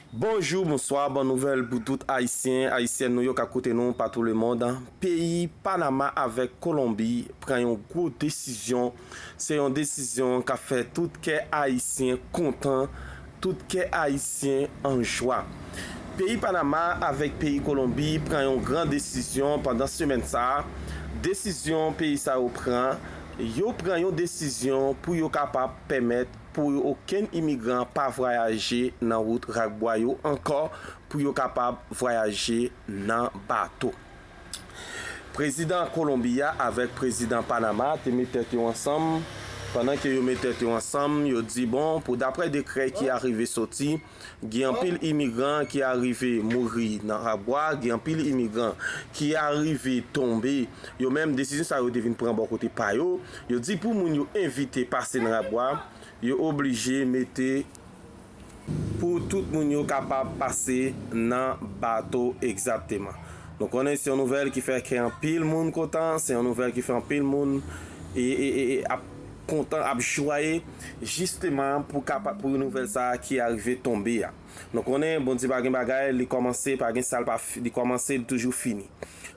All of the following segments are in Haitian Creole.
Bonjou, bonswa, bon nouvèl pou tout Ayisyen, Ayisyèn nou yo kap koute nou patou lemond. Peyi Panama avèk Kolonbi pran yon gwo desizyon. Se yon desizyon kap fè tout kè Ayisyen kontan, tout kè Ayisyen an jwa. Peyi Panama avèk peyi Kolonbi pran yon gran desizyon pandan semèn sa a. Desizyon peyi sa yo pran, yo pran yon desizyon pou yo kapab pèmèt. pou yo okenn imigran pa vwayaje nan wout Rakbwa yo ankò pou yo kapab vwayaje nan bato. Prezidan Kolonbi a avèk prezidan Panama te met tèt yo ansanm, pandan ke yo met tèt yo ansanm, yo di bon pou daprè dekrè ki arive soti, Gen anpil imigran ki arive mouri nan Rabwa, gen anpil imigran ki arive tonbe, yo menm desizyon sa yo te vin pran bò kote pa yo, yo di pou moun yo evite pase nan Rabwa, yo oblije mete pou tout moun yo kapab pase nan bato egzatteman. Nou konnen se yon nouvèl ki fè kè anpil moun kontan, se yon nouvèl ki fè anpil moun ap. kontan ap jwaye jisteman pou kapa pou nouvèl sa a ki arive tonbe a nou konnen Bondye pa gen bagay li kòmanse pa gen sa l pa li kòmanse li toujou fini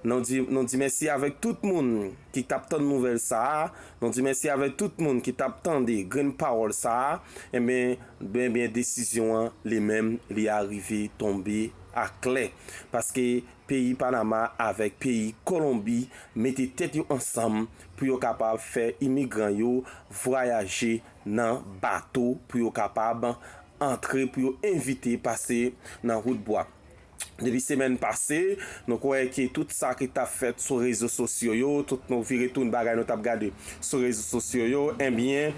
nou di nou di mèsi avèk tout moun ki t ap tann nouvèl sa a nou di mèsi avèk tout moun ki t ap tande grenn pawòl sa a enben ben ben desizyon an li menm li arive tonbe aklè paske peyi Panama avèk peyi Kolonbi mete tèt yo ansanm pou yo kapab fè imigran yo vwayaje nan bato pou yo kapab antre pou yo evite pase nan wout bwa. Depi semèn pase, nou kwè ke tout sa ki tap fèt sou rezo sosyo yo, tout nou vire tounn bagay nou tap gade sou rezo sosyo yo, enbyen,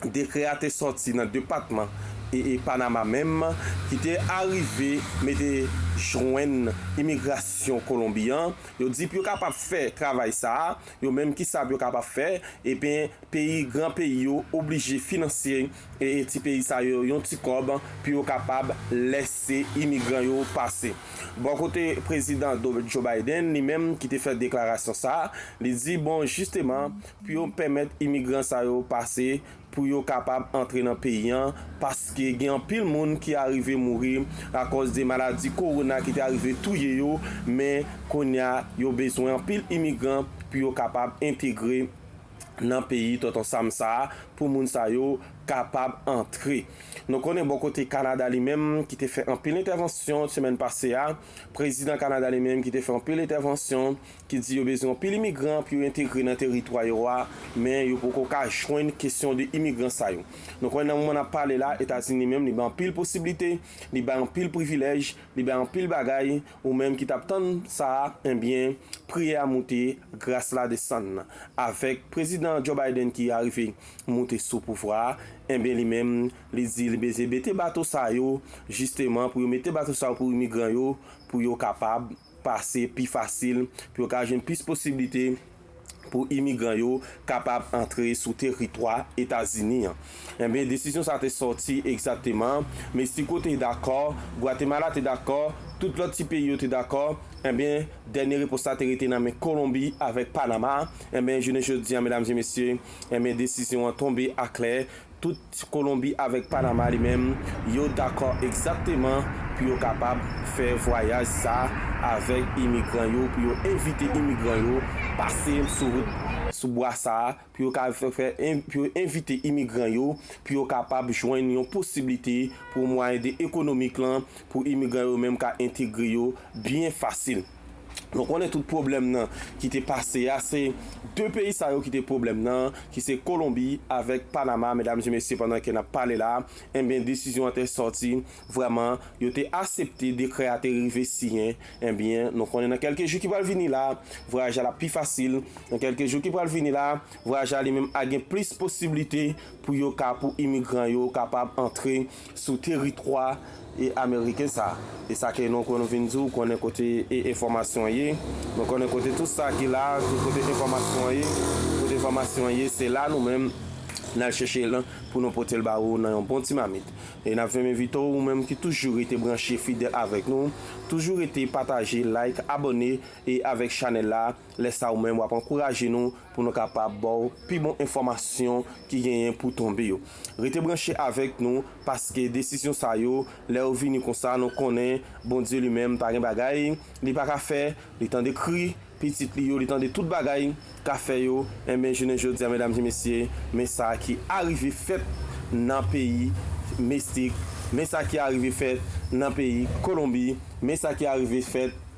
Dekrè a te sòti nan depatman e e Panama menm ki te arive mete jwenn imigrasyon Kolonbi an, yo di pou yo kapab fè travay sa a, yo menm kisa pou yo kapab fè, eben peyi gran peyi yo oblije finansye e e ti peyi sa yo yon ti kòb pou yo kapab lèse imigran yo pase. Bò kote prezidan Joe Biden li menm ki te fè deklarasyon sa a, li di bon jisteman, pou yo pèmèt imigran sa yo pase pou yo kapab antre nan peyi an paske gen anpil moun ki arive mouri akòz de maladi kowona ki te arive touye yo men kounye a yo bezwen anpil imigran pou yo kapab entegre nan peyi Tonton Sam sa a pou moun sa yo kapab antre. Nou konnen bò kote Kanada li menm ki te fè anpil entèvansyon semèn pase a, prezidan Kanada li menm ki te fè anpil entèvansyon ki di yo bezwen yon pil imigran pou yo entegre nan teritwa yo a, men yo poko ka jwenn kesyon de imigran sa yo. Nou konnen nan moman nap pale la, Etazini menm li bay anpil posiblite, li bay anpil privilèj, li bay anpil bagay, ou menm ki tap tann sa a, enbyen priyè a moute, gras la desann. Avèk Prezidan Joe Biden ki arive moute sou pouvwa a, enbyen li menm li di li bezwen mete bato sa yo, jisteman pou yo mete bato sa yo pou imigran yo, pou yo kapab. pase pi fasil pou yo ka jwenn plis posiblite pou imigran yo kapab antre sou teritwa Etazini an. Enben, desizyon sa a te sòti egzakteman, Meksiko te dakò, Gwatemala te dakò, tout lòt ti peyi yo te dakò, enben, dènye repons la te rete nan men Kolonbi avèk Panama, enben, jounen jodi a, medam e mesye, enben, desizyon an tonbe aklè, Tout Kolonbi avèk Panama li menm, yo dakò egzakteman pou yo kapab fè vwayaj sa avèk imigran yo, pou yo envite imigran yo pase sou wout, sou bwa sa, pou yo ka fè, pou yo envite imigran yo, pou yo kapab jwenn yon posiblite pou mwayen de ekonomik lan, pou imigran yo menm ka entegre yo byen fasil. Nou konnen tout pwoblèm nan ki te pase a, se 2 peyi sa yo ki te pwoblèm nan, ki se Kolonbi avèk Panama, medam e mesye pandan ke nap pale la, enbyen desizyon an te sòti, vrèman yo te asepte dekrè a te rive siyen, enbyen nou konnen nan kèlke jou ki pral vini la, vwayaj la lap pi fasil, nan kèlke jou ki pral vini la, vwayaj la li menm a gen plis posiblite pou yo ka pou imigran yo kapab antre sou teritwa ameriken sa a. E sa ke nou konn vin di, ou konnen kote enfòmasyon an ye, mwen konnen kote tout sa ki la a, tout kote enfòmasyon an ye, kote enfòmasyon an ye, se la nou menm n al chèche l pou nou pote l ba ou nan yon bon ti mamit. E n ap vin envite w ou menm ki toujou rete branche fidèl avèk nou, toujou rete pataje, like, abòne avèk chanèl la. Lè sa ou menm wap ankouraje nou pou nou kapab baw pi bon enfòmasyon ki genyen pou tonbe yo. Rete branche avèk nou paske desizyon sa yo lè yo vini konsa nou konnen Bondye li menm pa gen bagay li pa ka fè, li tande kri pitit li yo, li tande tout bagay ka fè yo, enben jounen jodia medam e mesye men sa ki arive fèt nan peyi Mestik, men sa ki arive fèt nan peyi Kolonbi, men sa ki arive fèt.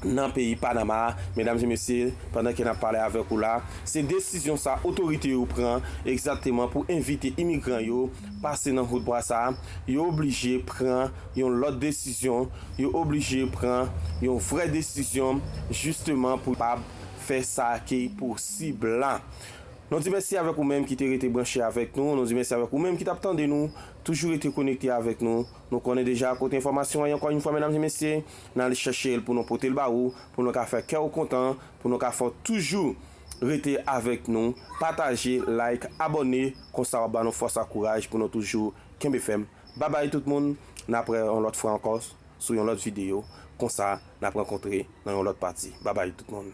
nan peyi Panama a, medam e mesye, pandan ke nap pale avèk ou la, se desizyon sa otorite yo pran egzakteman pou evite imigran yo pase nan hood bwa sa, yo oblije pran yon lòt desizyon, yo oblije pran yon vrè desizyon jisteman pou kapab fè sa ki posib la. Nou di mèsi avèk ou menm ki te rete branche avèk nou, nou di mèsi avèk ou menm ki tap tande nou, toujou rete konekte avèk nou. Nou konnen deja kote enfòmasyon an ye ankò yn fwa medam e mesye, nan al chèche l pou nou pote l ba ou, pou nou ka fè kè ou kontan, pou nou ka fè w toujou rete avèk nou, pataje, like, abòne, konsa wap ba nou fòs ak kouraj pou nou toujou kenbe fèm. Babay tout moun, n ap wè yon lòt fwa ankò sou yon lòt videyo, konsa n ap rankontre nan yon lòt pati. Babay tout moun.